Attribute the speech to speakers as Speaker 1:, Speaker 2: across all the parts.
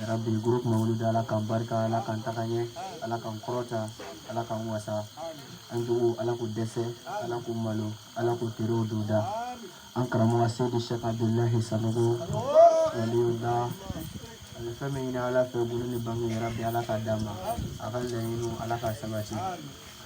Speaker 1: Yarabi groupe Mawuludi Ala k'an barika Ala k'an taga ɲɛ Ala k'an kɔrɔta Ala k'an wasa an juguw Ala k'u dɛsɛ Ala k'u malo Ala k'u terew don da an karamɔgɔ Seyidi Sɛki Abudulahi Sanogo waliyula a bɛ fɛn min ɲini Ala fɛ bulu ni bange yarabi Ala k'a d'a ma a ka laɲiniw Ala k'a sabati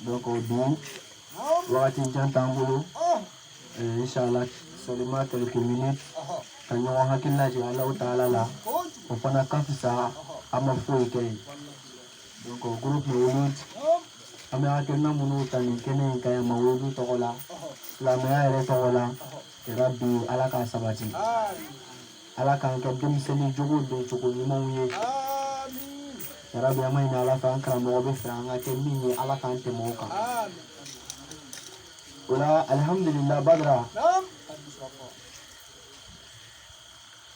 Speaker 1: donc o don wagati jan t'an bolo eh, inshallah seulement quelques minutes ka ɲɔgɔn hakili lajigi ala taala la o fana ka fisa an ma foyi kɛ ye donc o groupe mawulud an bɛ hakilina minnu ta nin kɛnɛ in kan yan mawuludu tɔgɔ la silamɛya yɛrɛ tɔgɔ la yarabi ala k'a sabati ala k'an kɛ denmisɛnnin jogo don jogo ɲumanw ye yarabi an b'a ɲini ala fɛ an karamɔgɔ bɛ fɛ an ka kɛ min ye ala k'an tɛmɛ o kan o la alihamudulila badara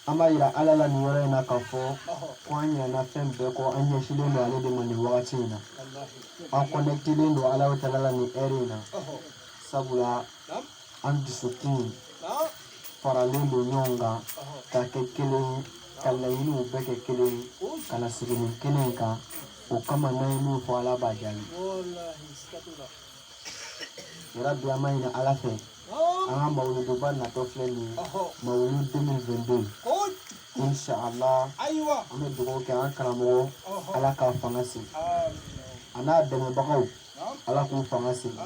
Speaker 1: an b'a yira ala la nin yɔrɔ in na k'a fɔ ko an ɲinɛna fɛn bɛɛ kɔ an ɲɛsilen don ale de ma nin wagati in na an kɔnɛkitelen don ala taala la nin heure in na sabula an dusukun faralen don ɲɔgɔn kan ka kɛ kelen ye ka laɲiniw bɛɛ kɛ kelen ye ka na sigi nin kɛnɛ kan o kama n'an ye min fɔ ala b'a jaabi yarabi an b'a ɲini ala fɛ an ka mawuluduba natɔ filɛ nin ye mawulud 2022 inshallah ayiwa an bɛ dugawu kɛ an karamɔgɔ ala k'a fanga sigi a n'a dɛmɛbagaw ala k'u fanga sigi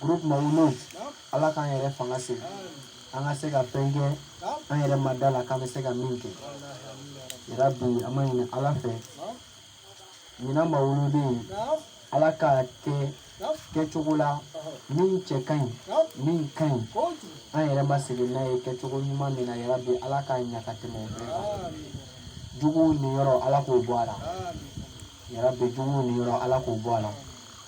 Speaker 1: groupe Mawulud Ala k'an yɛrɛ fanga sigi an ka se ka fɛn kɛ an yɛrɛ ma da a la k'an bɛ se ka min kɛ yarabi an b'a ɲini Ala fɛ ɲinan mawulud in Ala k'a kɛ kɛcogo la min cɛ ka ɲi min ka ɲi an yɛrɛ ma sigi n'a ye kɛcogo ɲuman min na yarabi ala k'a ɲa ka tɛmɛ o bɛɛ kan juguw niyɔrɔ ala k'o bɔ a la yarabi juguw niyɔrɔ ala k'o bɔ a la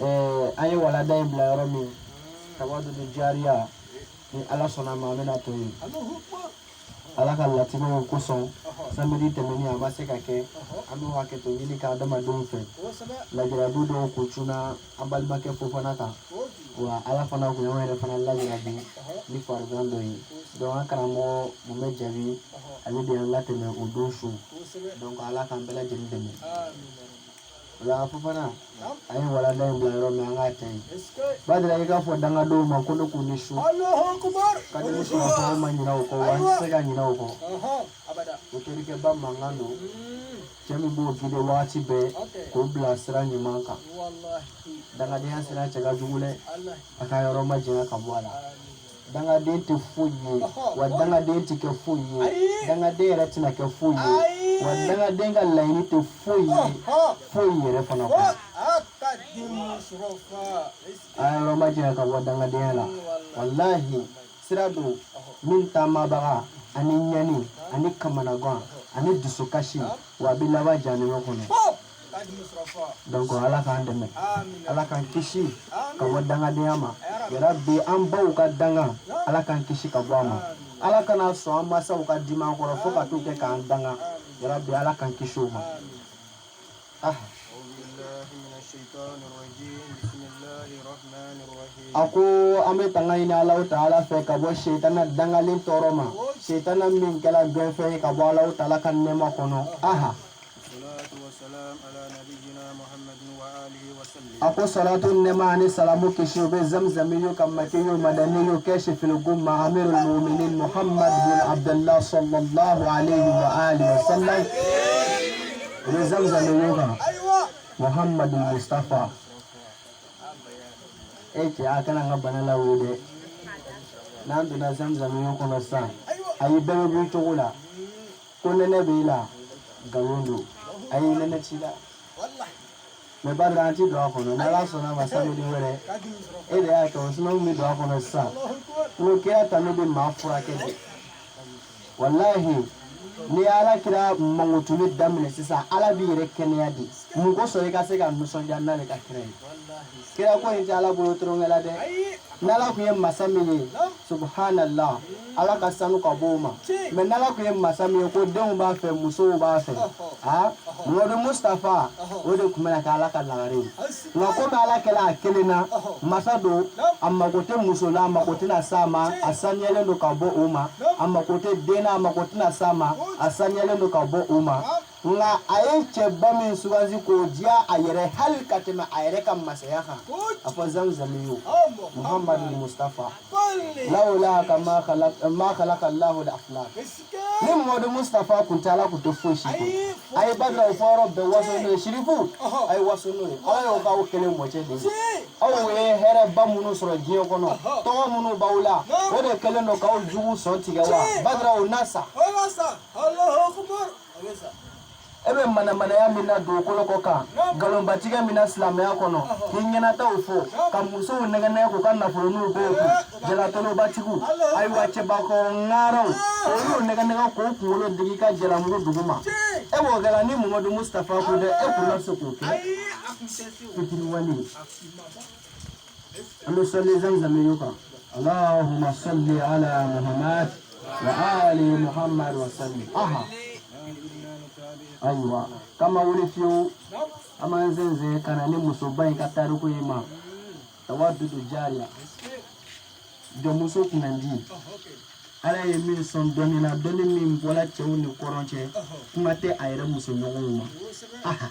Speaker 1: ɛɛ an ye walanda in bila yɔrɔ min tawadudu jariya ni ala sɔnna a ma an bɛna to yen ala ka latigɛw kosɔn samedi tɛmɛni a ma se ka kɛ an bɛ hakɛto ɲini ka adamadenw fɛ lajarabi dɔw kun cunna an balimakɛ fofana kan wa ala fana kun y'anw yɛrɛ fana lajarabi ni farigan dɔ ye donc an karamɔgɔ mun bɛ jabi ale de y'an latɛmɛ o don su donc ala k'an bɛɛ lajɛlen dɛmɛ O la Fofana an ye walanda in bila yɔrɔ min an k'a ta yen badara i k'a fɔ dangadenw ma ko ne k'u ni su ka di sɔrɔ fɔ ma ɲinɛ o kɔ wa n tɛ se ka ɲinɛ o kɔ o terikɛba mankan don cɛ min b'o gide wagati bɛɛ k'o bila sira ɲuman kan dangadenya sira cɛ ka jugu dɛ a ka yɔrɔ majanya ka bɔ a la dangaden tɛ foyi ye wa dangaden tɛ kɛ foyi ye dangaden yɛrɛ tɛna kɛ foyi ye wa dangaden ka laɲini tɛ foyi ye foyi yɛrɛ fana kɔ a yɔrɔ ma janya ka bɔ dangadenya la walahi sira don min taamabaga ani ɲani ani kamanagan ani dusukasi wa a bɛ laban jahanama kɔnɔ donc ala k'an dɛmɛ ala k'an kisi ka bɔ dangadenya ma yarabi an baw ka danga ala k'an kisi ka bɔ a ma ala kana sɔn an masaw ka dimi an kɔrɔ fo ka t'u kɛ k'an danga yarabi ala k'an kisi o ma ah. a ko an bɛ tanga ɲini alahu taala fɛ ka bɔ setana dangalen tɔɔrɔ ma setana min kɛla gɛnfɛn ye ka bɔ alahu taala ka nɛɛma kɔnɔ aha a ko salatu nɛɛma ani salamu kisi o bɛ zamzamiyu kan makiyu madaniyu kashifil gumma amirul muminin muhammad bin abdullah sallallahu alayhi wa alihi wa sallam o bɛ zamzamiyu kan muhammad mustafa e cɛ a kana an ka bana la wo dɛ n'an donna zamzamiyu kɔnɔ sisan ayi bɛɛ bɛ b'i cogo la ko nɛnɛ b'e la nkalon don ayi nɛnɛ t'i la mɛ badara an ti don a kɔnɔ n'ala sɔnna ma samedi wɛrɛ e de y'a kɛ o sinon bɛ don a kɔnɔ sisan n'o kɛra tan ne bɛ maa furakɛ de walahi n'i ye ala kira mankutuli daminɛ sisan ala b'i yɛrɛ kɛnɛya di mun kosɔn i ka se ka nisɔndiya n'ale ka kira ye kira ko in tɛ ala bolo tolonkɛ la dɛ n'ala kun ye masa min ye subhanallah ala ka sanu ka b'o ma mɛ n'ala kun ye masa min ye ko denw b'a fɛ musow b'a fɛ muhamadu mustafa o de kun bɛna kɛ ala ka lagare ye nka komi ala kɛla a kelen na masa don a mago tɛ muso la a mago tɛna s'a ma a saniyalen don ka bɔ o ma a mago tɛ den na a mago tɛna s'a ma a saniyalen don ka bɔ o ma nka a ye cɛba min sugandi k'o diya a yɛrɛ hali ka tɛmɛ a yɛrɛ ka masaya kan a fɔ zamzamiyu muhamadu mustafa lawulaka ma kalaka lahu al-aflak ni muhamadu mustafa kun tɛ ala kun tɛ foyi si kun a ye badara o fɔ yɔrɔ bɛɛ waso n'o ye sirifu a ye waso n'o ye ala y'o k'aw kelen mɔcɛ de ye aw ye hɛrɛba minnu sɔrɔ diɲɛ kɔnɔ tɔgɔ minnu b'aw la o de kɛlen don k'aw jugu sɔn tigɛ wa badara o na sa e bɛ manamanaya min na dugukolo kɔ kan nkalonbatigɛ min na silamɛya kɔnɔ k'i ɲɛnataw fɔ ka musow nɛgɛnɛgɛ k'u ka nafoloninw b'u kun jalatolobatigiw ayiwa cɛbakɔrɔ ŋaaraw olu nɛgɛnɛgɛ k'u kunkolo digi ka jalamugu duguma e b'o kɛ la ni muhamadu mustafa kun tɛ e kun na se k'o kɛ fitiriwale an bɛ sɔli zamzamiyu kan allahumma salli ala muhammad wa ali muhammad wa sallim aha ayiwa k'an ma wuli fiyewu an b'an sɛnsɛn ka na ni musoba in ka tariku ye ma tawadudu jariya jɔnmuso kunnandi ala ye min sɔn dɔnni na dɔnni min bɔra cɛw ni kɔrɔn cɛ kuma tɛ a yɛrɛ musoɲɔgɔnw ma aha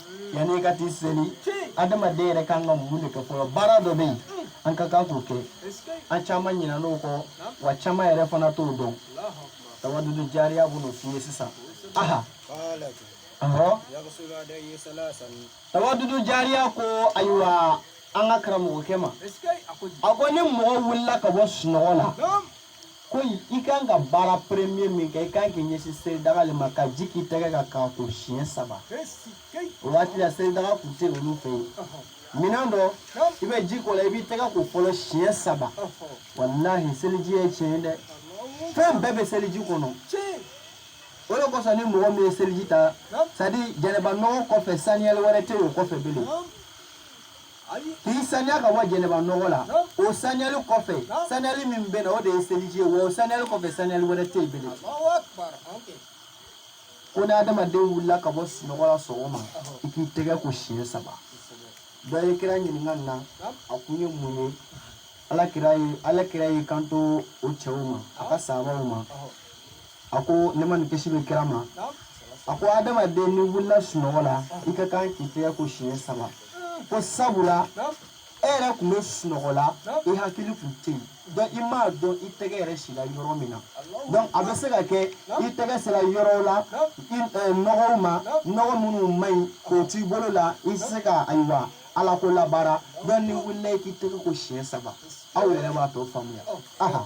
Speaker 1: yanni i ka t'i seli adamaden yɛrɛ kan ka mun de kɛ fɔlɔ baara dɔ bɛ yen an ka kan k'o kɛ an caman ɲinɛna o kɔ wa caman yɛrɛ fana t'o dɔn tawadudu jariya bɛn'o f'i ye sisan aha ɔhɔ tawadudu jariya ko ayiwa an ka karamɔgɔkɛ ma a ko ni mɔgɔ wulila ka bɔ sunɔgɔ la ko i kan ka baara premier min kɛ i kan k'i ɲɛsin seridaga le ma ka ji k'i tɛgɛ kan k'a ko siɲɛ saba o waati la seridaga tun tɛ olu fɛ yen minɛn dɔ i bɛ ji k'o la i b'i tɛgɛ ko fɔlɔ siɲɛ saba walahi seliji ye tiɲɛ ye dɛ fɛn bɛɛ bɛ seliji kɔnɔ o de kosɔn ni mɔgɔ min ye seliji ta c'est à dire jɛnɛba nɔgɔ kɔfɛ saniyali wɛrɛ tɛ o kɔfɛ bilen k'i saniya ka bɔ jɛnɛba nɔgɔ la o saniyali kɔfɛ saniyali min bɛ na o de ye seliji ye wa o saniyali kɔfɛ saniyali wɛrɛ tɛ yen bilen ko ni adamaden wulila ka bɔ sunɔgɔ la sɔgɔma i k'i tɛgɛ ko siɲɛ saba dɔ ye kira ɲininka nin na a kun ye mun ye ala kira y'i kanto o cɛw ma a ka saabaw ma a ko nɛɛma ni kisi bɛ kira ma a ko adamaden n'i wulila sunɔgɔ la i ka kan k'i tɛgɛ ko siɲɛ saba ko sabula e yɛrɛ tun bɛ sunɔgɔ la i hakili tun tɛ yen donc i m'a dɔn i tɛgɛ yɛrɛ sila yɔrɔ min na donc a bɛ se ka kɛ i tɛgɛ sera yɔrɔw la i eh, nɔgɔw ma nɔgɔ minnu man ɲi k'o t'i bolo la i tɛ se ka ayiwa ala ko labaara donc n'i wulila i k'i tɛgɛ ko siɲɛ saba aw yɛrɛ b'a tɔ faamuya aha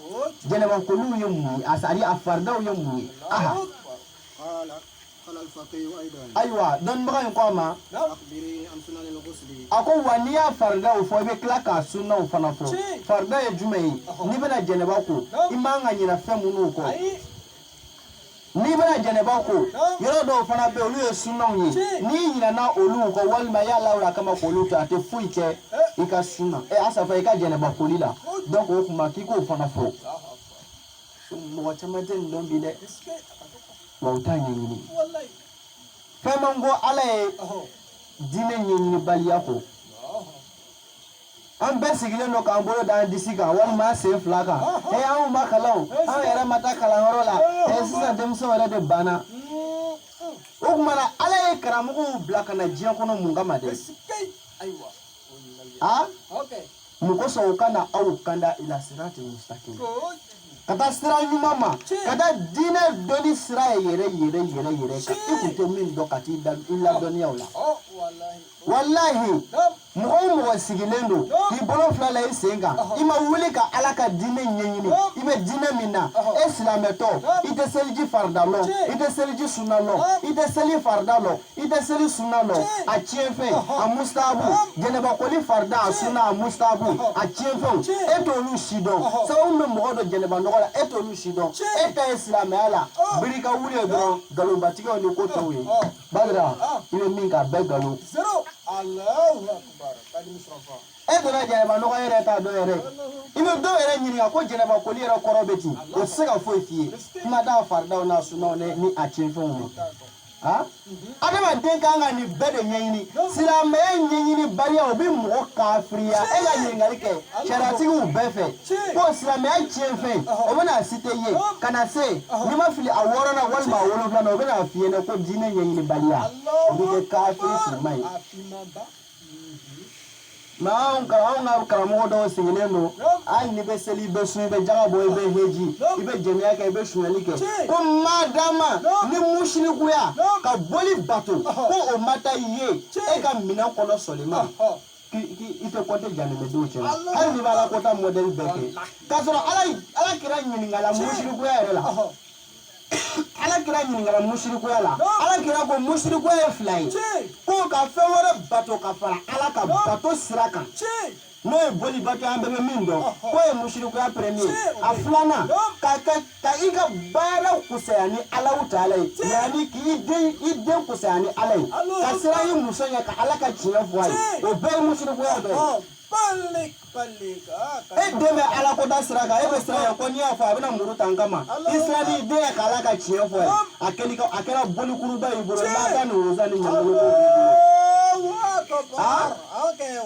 Speaker 1: jɛnɛba koliw ye mun ye a sari a faridaw ye mun ye aha ayiwa dɔnnibaga in ko a ma a ko wa n'i y'a faridaw fɔ i bɛ tila k'a sunnaw fana fɔ farida ye jumɛn ye n'i bɛna jɛnɛba ko i man ka ɲinɛ fɛn minnu kɔ n'i bɛna jɛnɛba ko yɔrɔ dɔw fana bɛ olu ye sunnaw ye n'i ɲinɛna olu kɔ walima i y'a lawuli a kama k'olu to a tɛ foyi kɛ i ka sunna ɛ asafa i ka jɛnɛba koli la donc o kuma k'i k'o fana fɔ mɔgɔ caman tɛ nin dɔn bi dɛ wa u t'a ɲɛɲini fɛn man ko ala ye diinɛ ɲɛɲinibaliya kɔ an bɛɛ sigilen don k'an bolo da an disi kan walima an sen fila kan ee anw ma kalan o an yɛrɛ ma taa kalanyɔrɔ la ee sisan denmisɛnw yɛrɛ de banna o tuma na ala ye karamɔgɔw bila ka na diɲɛ kɔnɔ mun kama dɛ a mun kosɔn u ka na aw kanda ila sirati mustaqim ka taa sira ɲuman ma ka taa diinɛ dɔnni sira yɛrɛ yɛrɛ yɛrɛ yɛrɛ kan i kun tɛ min dɔn ka t'i ladɔnniya o la walahi mɔgɔ o mɔgɔ sigilen don k'i bolo fila la i sen kan i ma wuli ka ala ka diinɛ ɲɛɲini i bɛ diinɛ min na e silamɛtɔ i tɛ seliji farida lɔn i tɛ seliji sunna lɔn i tɛ seli farida lɔn i tɛ seli sunna lɔn a tiɲɛfɛn a mustahabu jɛnɛbakoli farida a sunna a mustahabu a tiɲɛfɛnw e t'olu si dɔn sababu bɛ mɔgɔ don jɛnɛba nɔgɔ la e t'olu si dɔn e ta ye silamɛya la biri ka wuli ye dɔrɔn nkalonbatigɛw ni ko tɔw ye baara i bɛ min k'a bɛɛ nkalon. e donna jɛnɛba nɔgɔ yɛrɛ t'a dɔn yɛrɛ i bɛ dɔw yɛrɛ ɲininka ko jɛnɛba koli yɛrɛ kɔrɔ bɛ di o tɛ se ka foyi f'i ye kuma t'a faridaw n'a sunnaw ni a tiɲɛfɛnw ma. adamaden kan ka nin bɛɛ de ɲɛɲini silamɛya ɲɛɲinibaliya o bɛ mɔgɔ kafiriya e ka ɲininkali kɛ sariyatigiw bɛɛ fɛ ko silamɛya tiɲɛfɛn o bɛna a site i ye ka na se n'i ma fili a wɔɔrɔnan walima a wolonwulanan o bɛna a f'i ɲɛna ko diinɛ ɲɛɲinibaliya o b'i kɛ kafiri silamɛ ye mɛ anw ka anw ka karamɔgɔ dɔw sigilen don hali n'i bɛ seli i bɛ sun i bɛ jaga bɔ i bɛ heji i bɛ jɛnɛya kɛ i bɛ sunyali kɛ ko madama ni musirikuya ka boli bato ko o ma taa i ye e ka minɛn kɔnɔ sɔli ma i tɛ kɔnte janɛmɛdenw cɛ la hali n'i b'ala kɔta mɔdɛli bɛɛ kɛ k'a sɔrɔ ala kira ɲininkala musirikuya yɛrɛ la ala kira ɲininkala musirikuya la ala kira ko musirikuya ye fila ye ko ka fɛn wɛrɛ bato ka fara ala ka bato sira kan n'o ye bolibato an bɛɛ bɛ min dɔn k'o ye musirikuya premier a filanan ka i ka baaraw kusaya ni alahu taala ye yanni k'i den i den kusaya ni ala ye ka siran i muso ɲɛ ka ala ka tiɲɛ fɔ a ye o bɛɛ ye musirikuya dɔ ye e den bɛ ala ko da sira kan e bɛ siran a ɲɛ ko n'i y'a fɔ a bɛna muru ta n kama i siran i den ɲɛ ka ala ka tiɲɛ fɔ a ye a kɛra bolikuruba y'i bolo n'a ka ni woroza ni ɲangolo b'o b'i bolo.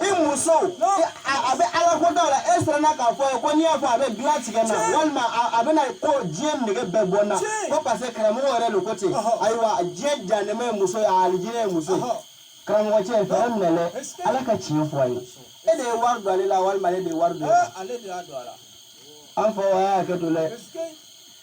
Speaker 1: i muso a bɛ ala ko dɔw la e siranna k'a fɔ a ye ko n'i y'a fɔ a bɛ dilan tigɛ n na walima a bɛna ko diɲɛ nege bɛɛ bɔ n na ko parce que karamɔgɔw yɛrɛ de ko ten ayiwa diɲɛ janɛmɛ ye muso ye a alijinɛ ye muso ye karamɔgɔ cɛ fɛɛrɛ minɛ dɛ ala ka tiɲɛ fɔ a ye e de ye wari don ale la walima ale de ye wari don ale de y'a don a la
Speaker 2: an fɔ a
Speaker 1: y'a hakɛ to dɛ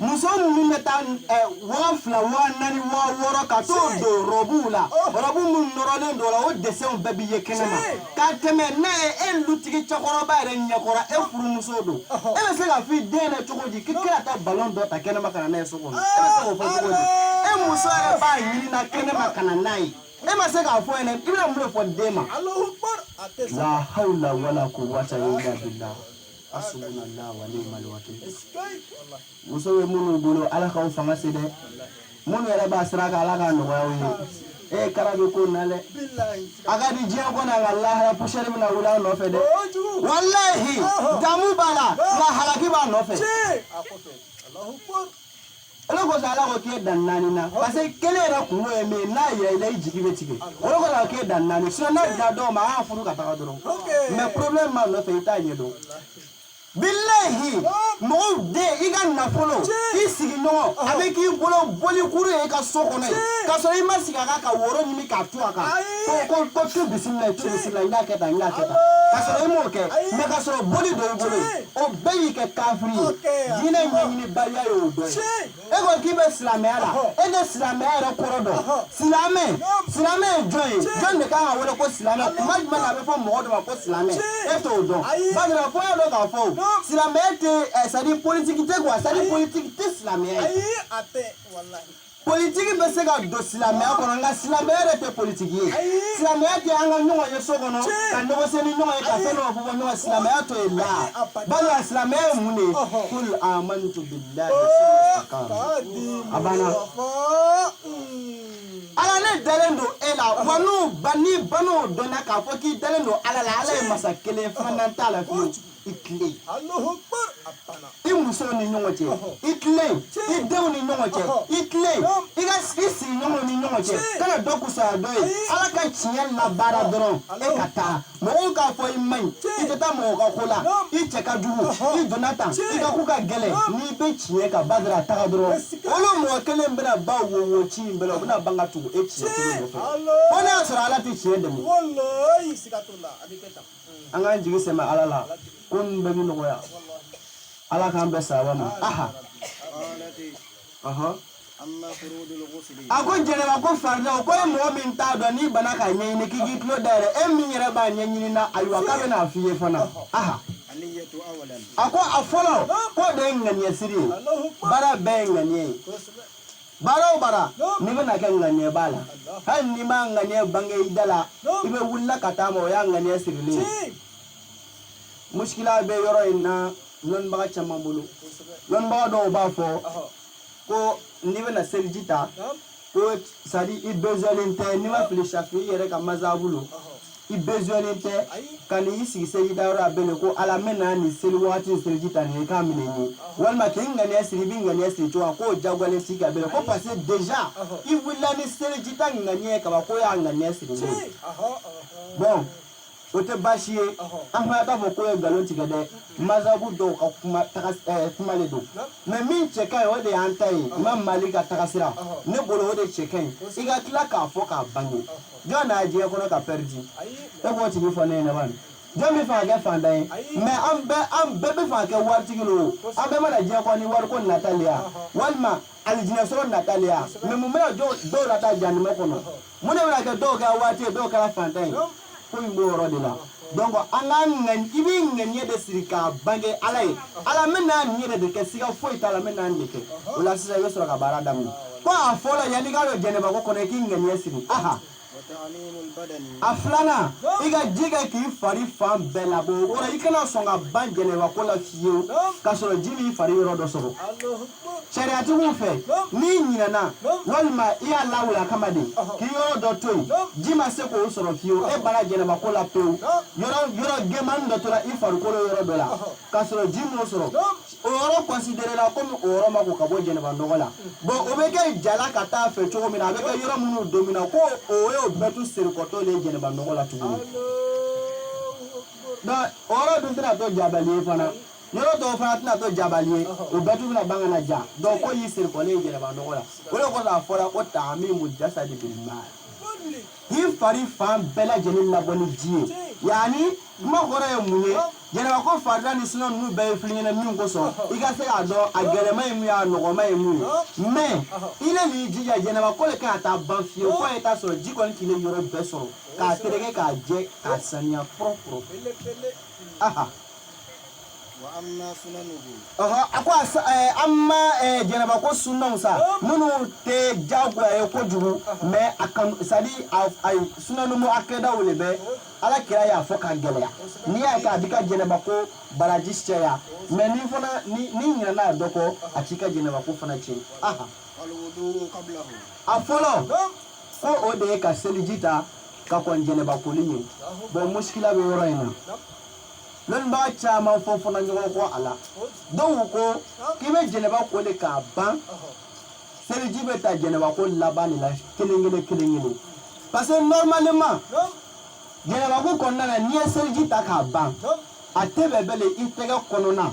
Speaker 1: muso minnu bɛ taa eh, waa fila waa naani waa wɔɔrɔ ka t'o don rɔbuw la oh. rɔbu minnu nɔrɔlen don o la o desɛnw bɛɛ bɛ ye kɛnɛ ma ka tɛmɛ n'a ye e lutigi cɛkɔrɔba yɛrɛ ɲɛkɔrɔ e furumuso don e bɛ se ka f'i den na cogo di k'i kana taa balon dɔ ta kɛnɛ ma ka na n'a ye so kɔnɔ e bɛ se k'o fɔ cogo di e muso yɛrɛ b'a ɲini na kɛnɛ ma ka na n'a ye e ma se k'a fɔ yɛrɛ i bɛna mun de fɔ den ma
Speaker 2: la hawla
Speaker 1: wala kuwata illa billah Asubunala wa niimali wakili muso bɛ minnu bolo ala k'aw fanga se dɛ minnu yɛrɛ b'a sira kan ala k'a nɔgɔya u ye e ye kara bɛ ko na dɛ a ka di diɲɛ kɔnɔ nka lahara pusɛri bɛna wuli a nɔfɛ dɛ walahi damu b'a la nka halaki b'a nɔfɛ
Speaker 2: o de
Speaker 1: kɔsɔn ala ko k'e dan naani na parce que kelen yɛrɛ kun ye min ye n'a yɛrɛ i la i jigi bɛ tigɛ o de kɔsɔn a k'e dan naani sinon n'a dira dɔw ma a y'a furu ka taga dɔrɔn mais problème b'a nɔfɛ i t'a ɲɛ dɔn bilahi mɔgɔw den i ka nafolo i sigiɲɔgɔn a bɛ k'i bolo bolikuru ye i ka so kɔnɔ yen k'a sɔrɔ i ma sigi a kan ka woro ɲimi k'a tu a kan ko ko ko tu bisimila tu bisimila n y'a kɛ tan n y'a kɛ tan k'a sɔrɔ i m'o kɛ mais k'a sɔrɔ boli don i bolo ye o bɛɛ y'i kɛ kafiri ye diinɛ ɲɛɲinibaliya ye o dɔ ye e ko k'i bɛ silamɛya la e tɛ silamɛya yɛrɛ kɔrɔ dɔn silamɛ silamɛ ye jɔn ye jɔn de kan ka wele ko silamɛ kuma jumɛn na a bɛ fɔ mɔgɔ dɔ ma ko silamɛ e t'o dɔn barisa fo e dɔn k'a fɔ silamɛya tɛ ɛ sadi politiki tɛ kuwa sadi politiki tɛ silamɛya ye. politiki bɛ se ka don silamɛya kɔnɔ nka silamɛya yɛrɛ tɛ politiki ye silamɛya tɛ an ka ɲɔgɔn ye so kɔnɔ ka ɲɔgɔn se ni ɲɔgɔn ye ka fɛn dɔ fɔ bɔ ɲɔgɔn silamɛya t'o ye la bari a silamɛya ye mun de ye kul amantu billahi a banna ala ne dalen don e la wa n'u ba ni banaw dɔnna k'a fɔ k'i dalen don ala la ala ye masa kelen filanan t'a la fiyewu
Speaker 2: i tilen i muso ni
Speaker 1: ɲɔgɔn cɛ i tilen i denw ni ɲɔgɔn cɛ i tilen i ka i sigiɲɔgɔnw ni ɲɔgɔn cɛ kana dɔ kusaya dɔ ye ala ka tiɲɛ labaara dɔrɔn e ka taa mɔgɔw k'a fɔ i man ɲi i tɛ taa mɔgɔ ka ko la i cɛ ka jugu i donna tan i ka ko ka gɛlɛn n'i bɛ tiɲɛ kan ba dara taga dɔrɔn olu mɔgɔ kelen bɛna ba wo wo ci in bɛna u bɛna ban ka tugu e tiɲɛ kelen nɔfɛ fo n'a y'a sɔrɔ ala tɛ tiɲɛ dɛmɛ
Speaker 2: an k'an
Speaker 1: jigi sɛmɛ ala la ko ninnu bɛɛ bi nɔgɔya ala k'an bɛn sawaba ma aha ɔhɔ
Speaker 2: a ko janaba ko
Speaker 1: faridaw ko e mɔgɔ min t'a dɔn n'i bana k'a ɲɛɲini k'i k'i tulo dayɛlɛ e min yɛrɛ b'a ɲɛɲini na ayiwa k'a bɛna a f'i ye fana
Speaker 2: aha a ko a fɔlɔ
Speaker 1: k'o de ye ŋaniya siri ye baara bɛɛ ye ŋaniya ye baara o baara n'i bɛna kɛ ŋaniyɛ b'a la hali n'i m'a ŋaniyɛ bange i da la i bɛ wulila ka taa a ma o y'a ŋaniyɛ sirilen ye muskila bɛ yɔrɔ in na lɔnnibaga caman bolo lɔnnibaga dɔw b'a fɔ ko n'i bɛna seliji ta ko c'est-à-dire i bezɔnnen tɛ ni n ma fili safi'i yɛrɛ ka mazabu lo i bezɔnnen tɛ ka n'i sigi seliji ta yɔrɔ la bilen ko ala n bɛna nin seli waati seliji ta nin ye k'a minɛ n ye walima k'i ŋaniya siri i bɛ ŋaniya siri cogo k'o jagoyalen t'i kan bilen ko parce que déjà i wulila ni seliji ta ŋaniya ye kaban k'o y'a ŋaniya sirilen ye bon o tɛ baasi ye an fana t'a fɔ k'o ye nkalon tigɛ dɛ mazabu dɔw ka kuma taga eh, kuma de don mais min cɛ ka ɲi o de y'an ta ye imam malik ka tagasira ne bolo o de cɛ ka ɲi i ka tila k'a fɔ k'a bange jɔn nana diɲɛ kɔnɔ ka pɛridi e b'o tigi fɔ ne ɲɛna bani jɔn b'a fɛ ka kɛ fantan ye mais an bɛɛ b'a fɛ ka kɛ waritigi lo an bɛɛ ma na diɲɛ kɔnɔ ni wariko natali ya walima alijinɛ sɔrɔ natali ya mais mun bɛna dɔw lataa jahanama kɔnɔ mun de bɛna kɛ dɔw kɛra waritigi ye dɔw kɛra fantan ye ko in b'o yɔrɔ de la donc an ka ŋani i b'i ŋaniya de siri k'a bange ala ye ala n bɛ na nin yɛrɛ de kɛ siga foyi t'a la n bɛ na nin de kɛ o la sisan i bɛ sɔrɔ ka baara daminɛ ko a fɔlɔ yanni i ka don jɛnɛbako kɔnɔ i k'i ŋaniya siri aha a filanan i ka ji kɛ k'i fari fan bɛɛ labɔ o kɔrɔ i kana sɔn ka ban jɛnɛbako la fiyewu k'a sɔrɔ ji m'i fari yɔrɔ dɔ sɔrɔ sariyatigiw fɛ n'i ɲinɛna walima i y'a lawuli a kama de k'i yɔrɔ dɔ to yen ji ma se k'o sɔrɔ fiyewu e banna jɛnɛba ko la pewu yɔrɔ gɛnmani dɔ tora i farikolo yɔrɔ dɔ la k'a sɔrɔ ji m'o sɔrɔ o yɔrɔ considéré la komi o yɔrɔ ma ko ka bɔ jɛnɛba nɔgɔ la bon o bɛ kɛ jala ka taa fɛ cogo min na a bɛ kɛ yɔrɔ minnu domina ko o y'o bɛɛ to serikɔtɔ le jɛnɛba nɔgɔ la tuguni o yɔrɔ dun tɛna to jabali ye fana yɔrɔ tɔw fana tɛna to jabali ye o bɛɛ tun bɛna ban ka na ja donc ko y'i siri kɔlen jɛnɛba nɔgɔ la o de kɔsɔn a fɔra ko taamimu jasadi bil maa k'i fari fan bɛɛ lajɛlen labɔ ni ji ye yanni kuma kɔrɔ ye mun ye jɛnɛba ko farida ni suna ninnu bɛɛ ye fɔ l'i ɲɛna min kosɔn i ka se k'a dɔn a gɛlɛma ye mun ye a nɔgɔma ye mun ye mais i le n'i jija jɛnɛba koli kana taa ban fiyewu fo a ye taa sɔrɔ ji kɔni k'i le yɔrɔ bɛɛ sɔrɔ k'a tereke k'a jɛ k'a saniya propre aha amma jɛnɛba ko sunaw sa minnu tɛ jagoya ye kojugu mais c'est-à-dire suna muwakadaw de bɛ ala kira y'a fɔ ka gɛlɛya n'i y'a kɛ a b'i ka jɛnɛba ko baraji caya mais ni fana n'i ɲinɛna dɔ kɔ a t'i ka jɛnɛba ko fana tiɲɛ a fɔlɔ ko o de ye ka seliji ta ka kɔn jɛnɛba koli ɲɛ bon muskila bɛ yɔrɔ in na lɔnnibaga caman fɔ fana ɲɔgɔn kɔ a la dɔw ko k'i bɛ jɛnɛba ko de k'a ban seliji bɛ ta jɛnɛba ko laban de la kelen kelen kelen kelen parce que normalement jɛnɛba ko kɔnɔna na n'i ye seliji ta k'a ban a tɛ bɛn belen i tɛgɛ kɔnɔna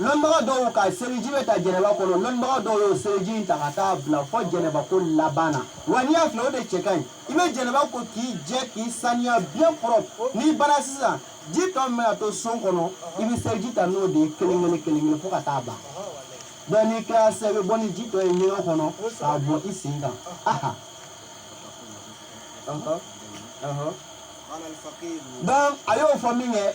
Speaker 1: Lɔnnibaga dɔw ka seliji bɛ ta jɛnɛba kɔnɔ lɔnnibaga dɔw y'o seliji in ta ka taa bila fɔ jɛnɛba ko laban na wa n'i y'a filɛ o de cɛ ka ɲi i bɛ jɛnɛba ko k'i jɛ k'i saniya bien propre n'i banna sisan ji tɔ min bɛna to son kɔnɔ i bɛ seliji ta n'o de ye kelen kelen kelen kelen fo ka taa ban donc n'i kɛra sisan i bɛ bɔ ni ji tɔ ye ɲɛgɛn kɔnɔ k'a bɔn i sen kan aha donc a y'o fɔ min kɛ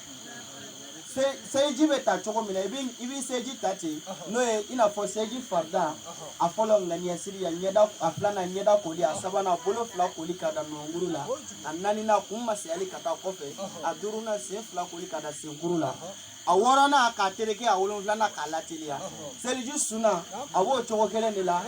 Speaker 1: seliji bɛ ta cogo min na i bɛ seliji ta ten n'o ye i n'a fɔ seliji farida a fɔlɔ ŋaniya siri a filanan ɲɛda koli a sabanan bolo fila koli ka da nɔnkuru la a naaninan kun masayali ka taa kɔfɛ a duurunan sen fila koli ka da senkuru la a wɔɔrɔnan k'a tereke a wolonfilanan k'a lateliya seliji sunan a b'o cogo kelen de la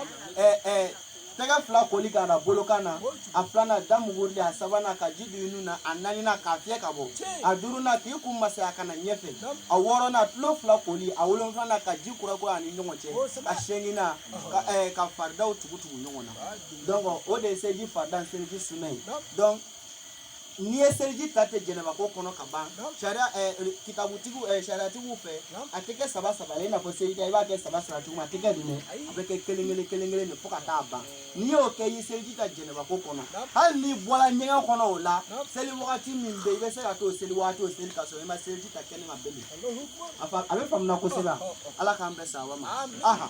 Speaker 1: tɛgɛ fila koli ka da bolokan na a filanan da mugurili a sabanan ka ji don i nun na a naaninan k'a fiyɛ ka bɔ a duurunan k'i kun masaya ka na ɲɛfɛ a wɔɔrɔnan tulo fila koli a wolonfilanan ka ji kura kura a ni ɲɔgɔn cɛ a seeginan ka, eh, ka faridaw tugu tugu ɲɔgɔn na donc o de ye seliji farida ni seliji sunan ye donc n'i ye seliji ta ten jɛnɛbako kɔnɔ ka ban sariya kitabutigiw sariyatigiw fɛ a tɛ kɛ saba saba ye i n'a fɔ seliji ta i b'a kɛ saba saba cogo min a tɛ kɛ nin a bɛ kɛ kelen kelen kelen kelen de fo ka taa ban n'i y'o kɛ i ye seliji ta jɛnɛbako kɔnɔ hali n'i bɔra ɲɛgɛn kɔnɔ o la seli wagati min bɛ i bɛ se ka t'o seli wagati o seli ka sɔrɔ i ma seliji ta kɛnɛ ma belen a bɛ faamuya kosɛbɛ ala k'an bɛɛ sawa ma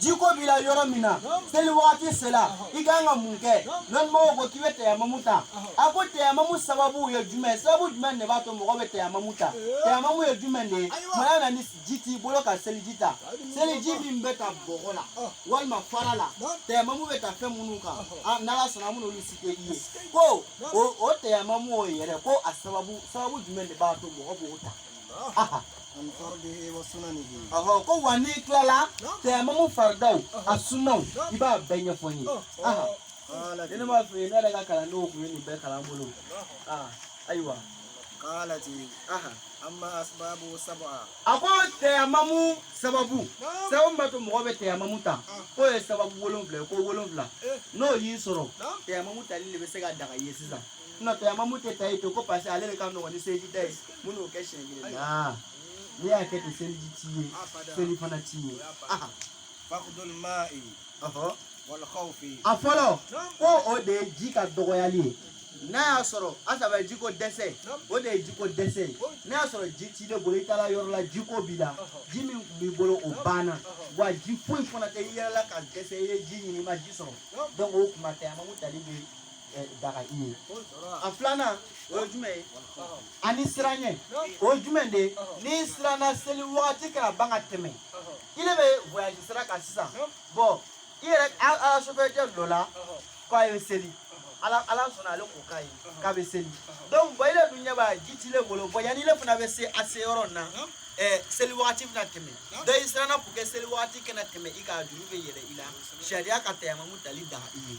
Speaker 1: jiko b'i la yɔrɔ min na seli wagati sela i ka kan ka mun kɛ lɔnnimɔgɔw ko k'i bɛ tɛyamamu ta a ko tɛyamamu sababu ye jumɛn sababu jumɛn de b'a to mɔgɔ bɛ tɛyamamu ta tɛyamamu ye jumɛn de ye mɔgɔ na ni ji t'i bolo ka seliji ta seliji min bɛ ta bɔgɔ la walima fara la tɛyamamu bɛ ta fɛn minnu kan n'ala sɔnna an b'olu citer i ye ko o tɛyamamu o yɛrɛ ko a sababu sababu jumɛn de b'a to mɔgɔ b'o ta
Speaker 2: ko wa
Speaker 1: n'i tilala tɛyamamu faridaw a sunaw i b'a bɛɛ ɲɛfɔ n ye
Speaker 2: ne m'a f'i ye ne
Speaker 1: yɛrɛ ka kalandenw tun ye nin bɛɛ kalan n bolo ayiwa
Speaker 2: a
Speaker 1: ko tɛyamamu sababu sababu min b'a to mɔgɔ bɛ tɛyamamu ta k'o ye sababu wolonfila ye ko wolonfila n'o y'i sɔrɔ tɛyamamu tali de bɛ se ka daga i ye sisan tɛyamamu tɛ ta ye to ko parce que ale de ka nɔgɔn ni seliji ta ye minnu kɛ siɲɛ kelen naa n'i y'a kɛ ten seliji t'i ye seli fana t'i ye aha
Speaker 2: fakudul ma'i ɔhɔ wal khawfi a fɔlɔ
Speaker 1: ko o de ye ji ka dɔgɔyali ye n'a y'a sɔrɔ asaba jiko dɛsɛ o de ye jiko dɛsɛ ye n'a y'a sɔrɔ ji t'i de bolo i taara yɔrɔ la jiko b'i la ji min tun b'i bolo o banna wa ji foyi fana tɛ i yɛrɛ la ka dɛsɛ i ye ji ɲini i ma ji sɔrɔ donc o tuma tɛyamamu tali bɛ daga i ye a filanan o ye jumɛn ye ani siranɲɛ o ye jumɛn de ye n'i siranna seli wagati kana ban ka tɛmɛ i de bɛ voyage sira kan sisan bon i yɛrɛ ala sofɛrɛcɛ dɔ la k'a ye seli ala ala sɔnna ale ko k'a ye k'a bɛ seli donc bon i de dun ɲɛ b'a ji t'i le bolo bon yanni i le fana bɛ se a se yɔrɔ nin na ɛɛ seli wagati bɛna tɛmɛ donc i siranna pour que seli wagati kana tɛmɛ i kan a juru bɛ yɛlɛ i la sariya ka tayamamu tali daga i ye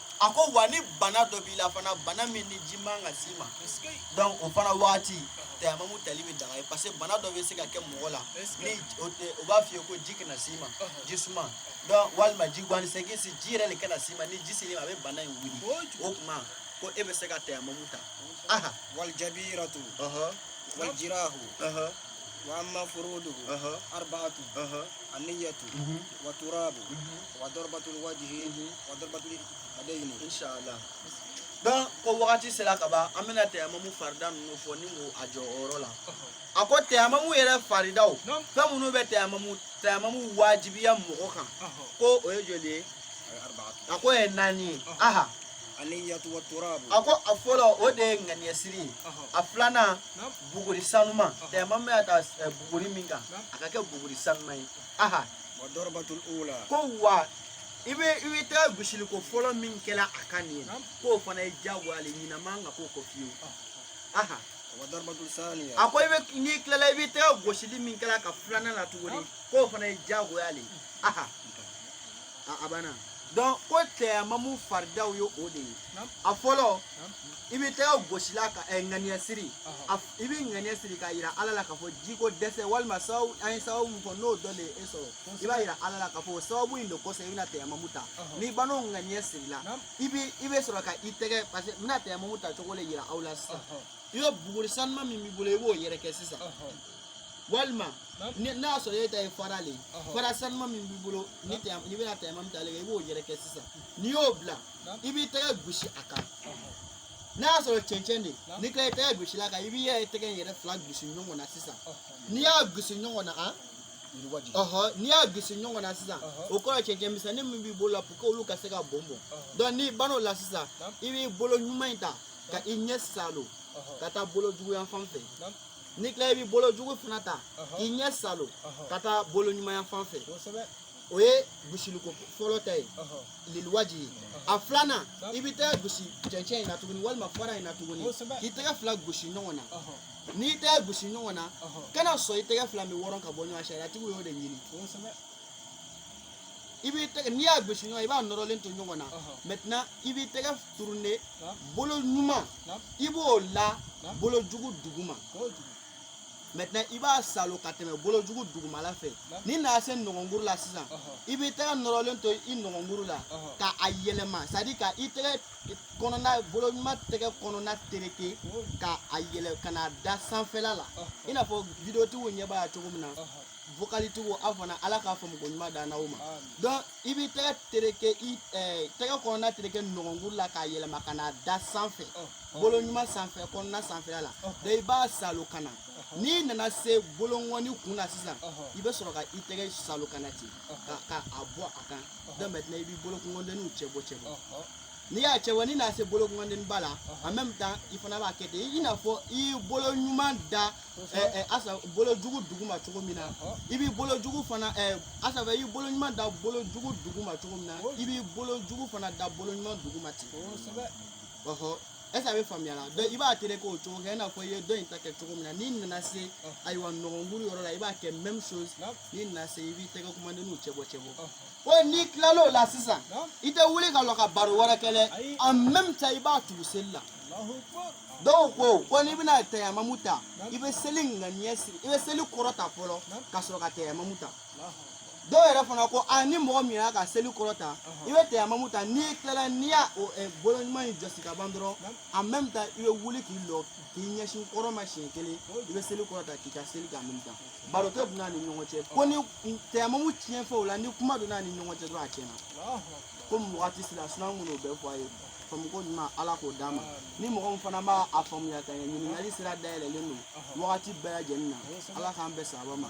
Speaker 2: a
Speaker 1: ko wa ni bana dɔ b'i la fana bana min ni ji man ka s'i ma donc o fana waati tayamamu tali bɛ daga i ye parce que bana dɔ bɛ se ka kɛ mɔgɔ la ni o b'a f'i ye ko ji kana s'i ma ji suma don walima ji guwanni sɛgin si ji yɛrɛ de kana s'i ma ni ji sel'i ma a bɛ bana in wuli o tuma ko e bɛ se ka tayamamu ta aha
Speaker 2: walijabiratu walijirahu wa amma furuduhu arba'atu anniyatu wa turabu wa dɔrɔbatul wajihi mhm. wa dɔrɔbatul yadayini
Speaker 1: inshallah donc ko wagati sera ka ban an bɛna tɛyamamu farida ninnu fɔ ni ko a jɔ o yɔrɔ la a ko tɛyamamu yɛrɛ faridaw fɛn minnu bɛ tɛyamamu tɛyamamu wajibiya mɔgɔ kan ko o ye joli ye a k'o ye naani ye
Speaker 2: aha a ko a
Speaker 1: fɔlɔ o de ye ŋaniyɛsiri ye a filanan buguri sanuma tɛyamamu bɛ ka ta buguri min kan a ka kɛ buguri sanuma ye aha wa
Speaker 2: darabatul ula ko
Speaker 1: wa i bɛ i bɛ tɛgɛ gosili ko fɔlɔ min kɛ la a kan nin ye k'o fana ye diyagoya le ɲinan man kan k'o kɔ fiyewu aha wa darabatul
Speaker 2: saniya a ko i bɛ
Speaker 1: n'i tilala i bɛ tɛgɛ gosili min kɛ la ka filanan na tuguni k'o fana ye diyagoya le aha a a banna donc ko tɛyamamu faridaw ye o de ye a fɔlɔ i bɛ tɛgɛ gosi la ka ŋaniya siri i bɛ ŋaniya siri k'a yira ala la k'a fɔ jiko dɛsɛ walima sababu an ye sababu min fɔ n'o dɔ de ye e sɔrɔ i b'a yira ala la k'a fɔ sababu in de kosɔn i bɛna tɛyamamu ta n'i banna o ŋaniya siri la i bɛ i bɛ sɔrɔ ka i tɛgɛ parce que n bɛna tɛyamamu ta cogo de yira aw la sisan i bɛ buguri sanuma min b'i bolo i b'o yɛrɛkɛ sisan walima n'a y'a sɔrɔ e ta ye fara le ye fara sanuma min b'i bolo n'i bɛna tɛyamamu ta ale kan i b'o yɛrɛkɛ sisan n'i y'o bila i b'i tɛgɛ gosi a kan n'a y'a sɔrɔ cɛncɛn de n'i tila i tɛgɛ gosi la kan i b'i yɛrɛ i tɛgɛ in yɛrɛ fila gosi ɲɔgɔn na sisan n'i y'a gosi ɲɔgɔn na an n'i y'a gosi ɲɔgɔn na sisan o kɔrɔ cɛncɛn misɛnni min b'i bolo la pour que olu ka se ka bɔn bɔn donc n'i banna o la sisan i b'i bolo ɲuman in ta ka i ɲɛ salo ka taa bolo jugu yan fan fɛ n'i tila i b'i bolo jugu fana ta k'i ɲɛ salo ka taa bolo ɲuman yan fan fɛ o ye gosiliko fɔlɔ ta ye liliwaji ye a filanan i bɛ tɛgɛ gosi cɛncɛn in na tuguni walima fara in na tuguni k'i tɛgɛ fila gosi ɲɔgɔn na n'i tɛgɛ gosi ɲɔgɔn na kana sɔn i tɛgɛ fila bɛ wɔrɔ ka bɔ ɲɔgɔn na sariyatigiw y'o de ɲini i
Speaker 3: b'i tɛgɛ n'i y'a gosi ɲɔgɔn i b'a nɔrɔlen to ɲɔgɔn na maintenant i b'i tɛgɛ tourner bolo ɲuman i b'o la bolo jugu duguma maintenant i b'a salo ka tɛmɛ bolojugu dugumala fɛ n'i nana se nɔnkɔnkuru la sisan i bɛ tɛgɛ nɔrɔlen to i nɔnkɔnkuru la ka a yɛlɛma c'est à dire ka i tɛgɛ kɔnɔna bolo ɲuman tɛgɛ kɔnɔna tereke ka a yɛlɛ ka n'a da sanfɛla la i n'a fɔ videotigiw ɲɛ b'a la cogo min na vocalitigiw aw fana ala k'a faamuko ɲuman dan n'aw ma donc i b'i tɛgɛ tereke i tɛgɛ kɔnɔna tereke nɔnkɔnkuru la k'a yɛlɛma ka n'a da sanfɛ bolo ɲuman sanfɛ kɔnɔna sanfɛla la donc i b'a salo ka na n'i nana se bolonkɔni kun na sisan i bɛ sɔrɔ ka i tɛgɛ salo ka na ten ka ka a bɔ a kan donc maintenant i b'i bolonkɔndenninw cɛ bɔ cɛ bɔ n'i y'a cɛ bɔ n'i nana se bolonkɔnden ba la en même temps i fana b'a kɛ ten i n'a fɔ i y'i bolo ɲuman da ɛ ɛ asa bolo jugu duguma cogo min na i b'i bolo jugu fana ɛ asa i y'i bolo ɲuman da bolo jugu duguma cogo min na i b'i bolo jugu fana da bolo ɲuman duguma ten est-ce a bɛ faamuya la donc i b'a terek'o cogo kɛ i n'a fɔ i ye dɔ in ta kɛ cogo min na n'i nana se ayiwa nɔnkɔnkuru yɔrɔ la i b'a kɛ même chose n'i nana se i b'i tɛgɛ kumandenninw cɛ bɔ cɛ bɔ ko n'i tilal'o la sisan i tɛ wuli ka lɔ ka baro wɛrɛ kɛ dɛ en même temps i b'a tugu seli la dɔw ko ko n'i bɛna tayamamu ta i bɛ seli ŋaniya siri i bɛ seli kɔrɔta fɔlɔ ka sɔrɔ ka tayamamu ta dɔw yɛrɛ fana ko a ni mɔgɔ min y'a ka seli kɔrɔta i bɛ tɛyamamu ta n'i tilala n'i y'a bolo ɲuman in jɔsi ka ban dɔrɔn en même temps i bɛ wuli k'i lɔ k'i ɲɛsin kɔrɔn ma siɲɛ kelen i bɛ seli kɔrɔta k'i ka seli k'a minɛ baro tɛ don a ni ɲɔgɔn cɛ ko ni tɛyamamu tiɲɛ fɛ o la ni kuma donna ni ɲɔgɔn cɛ dɔrɔn a tiɲɛna ko mɔgɔ tɛ sira sunan kun n'o bɛɛ fɔ a ye faamuko ɲuman ala k'o d'a ma ni mɔgɔ min fana ma a faamuya ka ɲɛ ɲininkali sira dayɛlɛlen don wagati bɛɛ lajɛlen na ala k'an bɛɛ sababa ma